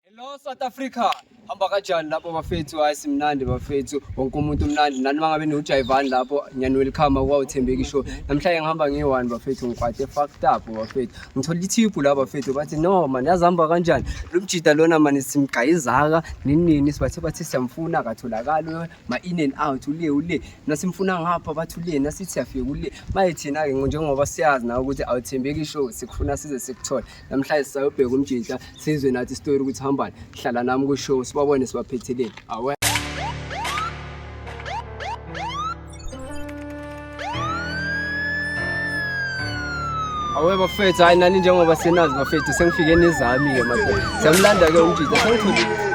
Hello South Africa. Hamba kanjani lapho bafethu? Hayi simnandi bafethu. Wonke umuntu umnandi. Nani mangabe niwujayivani lapho ngiyani welcome kwa uthembeki show. Namhlanje ngihamba ngiyi-one bafethu ngikwate fucked up bafethu. Ngithola ithiphu la bafethu bathi no man yazihamba kanjani? Lo mjita lona man simgayizaka ninini sibathe bathi siyamfuna akatholakali ma in and out ule ule. Nasimfuna ngapha bathi ule nasithi siyafika ule. Maye thina ke njengoba siyazi na ukuthi awuthembeki show sikufuna size sikuthole. namhlanje sisayobheka umjinhla sizwe nathi isitori ukuthi hambani hlala nami kushow sibabone sibaphetheleni awe awe bafethu hayi nani njengoba senazi bafethu sengifike nizami-ke madoda siyamlanda-ke umjinhla sengithole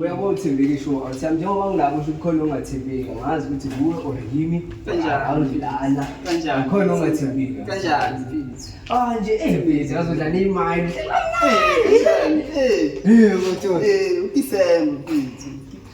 Uyabona uthembeke isho awuthembi njengoba ngilapho usho kukhona ongathembeki ngazi ukuthi kuwe or yimi Kanjani? awudlana Kanjani? khona ongathembeki Kanjani? ah nje eh busy ngazodla neyimali Eh, kanjani? Eh, eh mfowethu eh, uKisem, mfethu.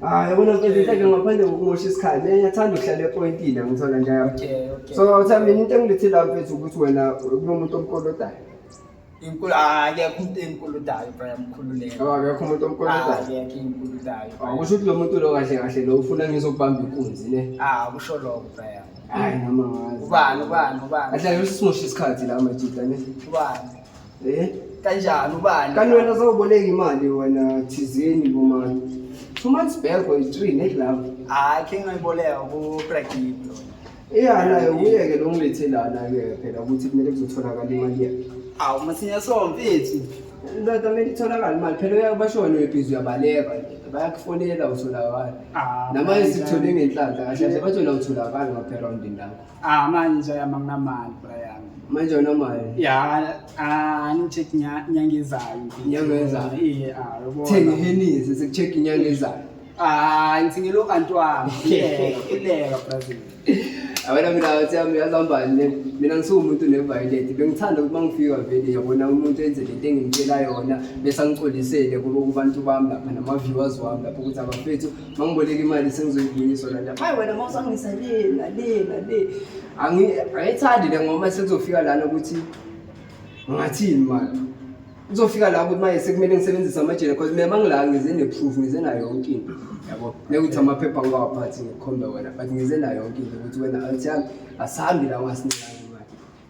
Ah, yabona mfethu inhleke ngaphandle kokumosha isikhathi. Mina ngiyathanda ukuhlala epointini angithola nje yami. Okay, okay. So uthe mina into engilethela mfethu ukuthi wena kunomuntu omkolodayo. Inkulu ah, akekho umuntu enkuludayo bro yamkhululeka. Yabo akekho umuntu Ah, omkolodayo. akekho inkuludayo. Awu, Kusho ukuthi lo muntu lo kahle kahle lo ufuna ngizokubamba inkunzi ne. Ah, kusho lokho bro. Hayi noma ngazi. Ubani ubani ubani? Ahlale usimosha isikhathi la majita ne. Ubani? Eh? Kanjani ubani? Kanti wena sawuboleka imali wena thizeni bomani. Two months back or three ne glove. Hayi ke ngayiboleka ku Pragib. Iya nayo uyeke lo ngilethe lana ke phela ukuthi kumele kuzotholakala imali yakhe. Awu masinya so mfethu. Ndoda mele itholakala imali phela uyabashona uyibhizi uyabaleka bayakufonela utholakala. Ah, Namanje sikuthole ngenhlanhla kahle kahle bathi wena utholakala ngapha erawundini lakho. Ah, manje amanginamali bra yami. Manje unamali. Ya, ah, angicheck inyanga ezayo. Inyanga ezayo. Iye, ah, yabona. Thenga henisi sekucheck inyanga ezayo. Ah, ngithengele ukantwana. Kuleka Brazil. Awena mina uthi yami yazambani le. Mina ngisumuntu neviolent. Bengithanda ukuthi mangifika vele yabona umuntu enze lento engimtshela yona bese angixolisele kubo kubantu bami lapha nama viewers wami lapho ukuthi abafethu mangiboleka imali sengizoyivunyiswa la ndaba hayi wena uma usangisa le nale nale angiyithandi le ngoma sekuzofika lana ukuthi ngathini mani kuzofika la ukuthi manje sekumele ngisebenzise amajele because mina mangila ngize ne-proof ngize nayo yonke into yabo nekuthi amaphepha ngiwaphathi ngikhombe wena but ngize nayo yonke into ukuthi wena anti yami asihambi la ungasiningani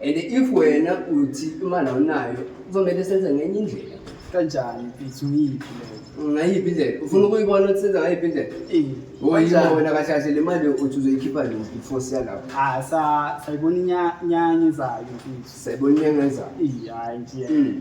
and if wena uthi imali awunayo kuzomele senze ngenye indlela kanjani mfethu ngiyiphi leyo ngayiphi indlela ufuna ukuyibona ukuthi senza ngayiphi indlela Eh, oyibo kanjani? wena kahle kahle le mali uthi uzoyikhipha nini before siya lapho Ah, sa- sayibona inya- inyanga ezayo mfethu sayibona inyanga ezayo Eyi, hhayi nje Mm.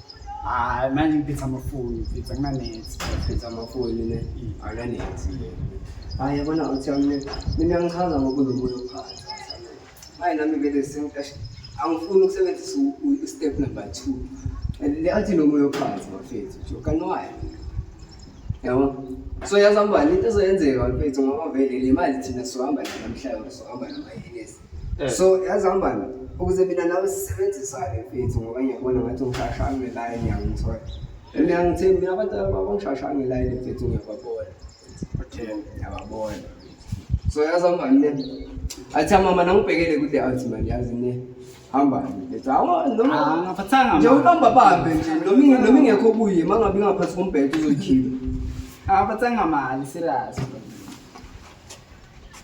Hayi manje ngiphethe amafoni, ngiphethe kunanethi. Ngiphethe amafoni ne akanethi le. Hayi yabona uthi mina mina ngichaza ngokunomoya ophansi. Hayi nami vele sengiqashe. Angifuni ukusebenzisa i-step number two. Le athi nomoya ophansi bafethu nje. Kanti why? Yabo. So yazi ubani into ezoyenzeka bafethu ngoba vele le mali thina sohamba nayo namhlanje sohamba nayo yenesi. Eh. so yazi hambani ukuze mina nawe sisebenzisane mfethu ngoba ngiyabona ngathi ungishashange line ngiyangithola and ngiyangithembi mina abantu abangishashange line mfethu ngiyababona okay ngiyababona so yazi hambani ne athi mama nangibhekele kude athi mani yazi ne hambani lethu awa noma ah, ngaphathanga nje ubamba bambe nje noma noma ingekho kuye mangabe ingaphathi kombhedo uzoyikhipha ngaphathanga mali serious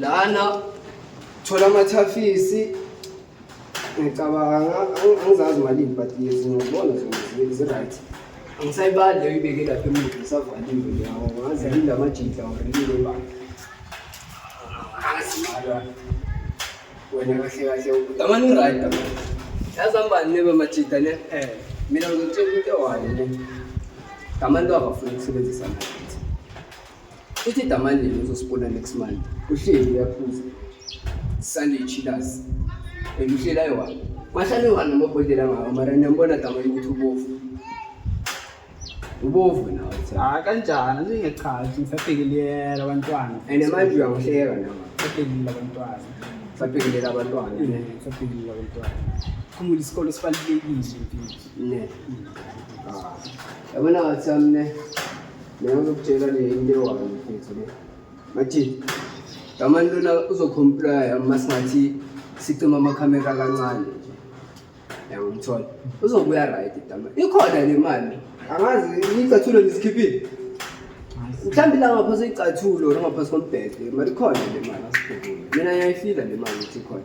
lana thola amathafisi ngicabanga angizazi malini but ngizibona zi-right angisayibali leyo ibeke lapha emuva isavaliwe leyawo ngazi yini la majita orilile ba wena kahle kahle amane uright yazambani nebe majita ne eh mina ngizotshela into ewayo ne ngamani lo akafuni ukusebenzisa nathi Uthi damanje uzosibona next month. Uhleli uyaphuza. Sale chillers. Eluhlela yona. Mahlale wona amabhodlela ngawo mara niyambona damanje ukuthi ubovu. Ubovu nawo. Hayi ah, kanjani ngingechazi ngisabhekeliyela abantwana. And manje uyangihleka nawe. Sabhekelela abantwana. Sabhekelela abantwana. Sabhekelela abantwana. Khumula isikole sibalulekile impilo. Ne. Ah. Yabona wathi amne. Mina ngizokutshela nje into ewayo mfethu le. Bathi Damani lona uzocomplya uma singathi sicima amakhamera kancane nje. Yangimthola. Uzobuya right Damani. Ikhona le mali. Angazi icathulo lisikhiphile. Mhlawumbe la ngapha seyicathulo ngapha sombhede. Mali khona le mali asikhumbule. Mina ngiyayifila le mali ukuthi ikhona.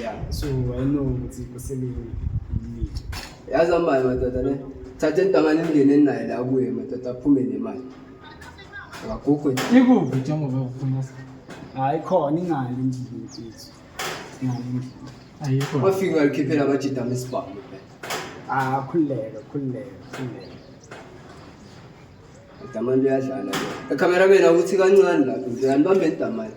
yeah so i know ukuthi kusebenza imithi yazi amali madoda ne thatha intangane ingene naye la kuye madoda aphume nemali akakukho nje ikuphi njengoba ufuna hayi khona ingale endlini mfethu ingale endlini ayikho wafika alikhiphela abajida mesibhamu ah khululeka khululeka khululeka idamani liyadlala ke ekhamera bena ukuthi kancane lapho nje anibambe idamani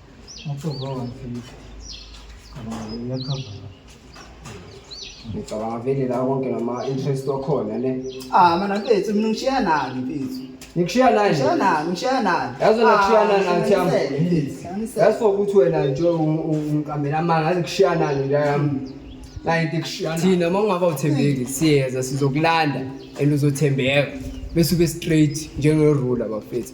ngicabanga vele la konke ngama-interest wakhona ne ah mana mfethu mina ngishiya nani mfethu ngikushiya nani ngishiya nani ngishiya nani yazo nakushiya nani ngathi yami yaso ukuthi wena nje ungiqambela amanga ngathi kushiya nani nje yami nayinto ikushiyana thina uma ungaba uthembeki siyeza sizokulanda and uzothembeka bese ube straight njengerula bafethu